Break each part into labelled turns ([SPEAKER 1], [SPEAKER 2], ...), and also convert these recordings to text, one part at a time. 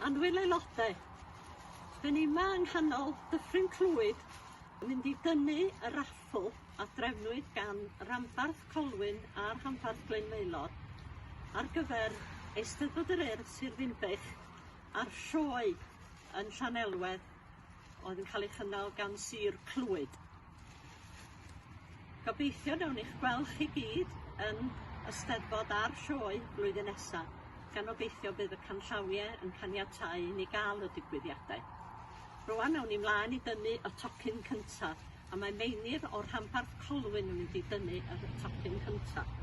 [SPEAKER 1] Annwyl aelodau, dyn ni yma yng nghanol Dyffryn Clwyd yn mynd i dynnu y raffl a drefnwyd gan Ranbarth Colwyn a Rhanbarth Glyn Maelor ar gyfer Eisteddfod yr Urdd Sir Ddinbych a'r Sioe yn Llanelwedd. oedd yn cael ei chynnal gan Sir Clwyd. Gobeithio nawn ni'ch gweld chi gyd yn y Steddfod a'r sioe blwyddyn nesaf, gan obeithio bydd y canllawiau yn caniatáu i ni gael y digwyddiadau. Rwan nawn ni mlaen i dynnu y tocyn cyntaf, a mae Meinir o'r rhanbarth Colwyn yn mynd i dynnu y tocyn cyntaf.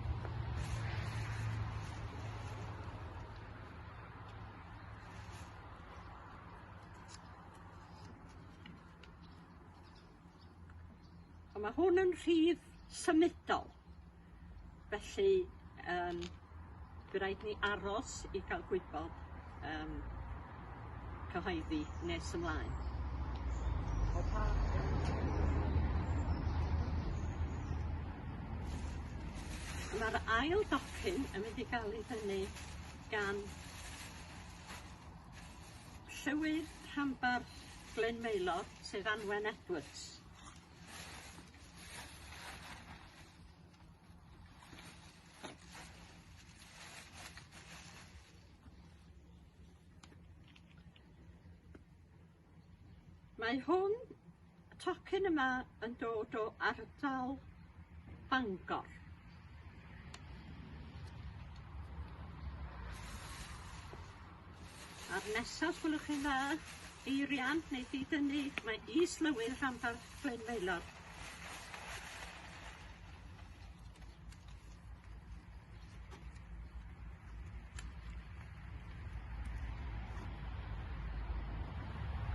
[SPEAKER 1] Ond ma' hwn yn rhif symudol felly yym by' raid ni aros i ga'l gwybod yym cyhoeddi nes ymlaen. Ma'r ail docyn yn mynd i ga'l 'i thynnu gan Llywydd Rhanbarth Glyn Maelor, sef Anwen Edwards. Mae hwn Y tocyn yma yn dod o ardal Bangor. A'r nesaf gwelwch chi'n dda, eirian neu didynnu, mae is-lywydd rhanbarth Glenfaelor.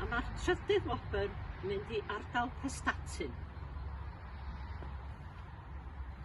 [SPEAKER 1] A mae'r trydydd wobr yn mynd i ardal Prestatyn.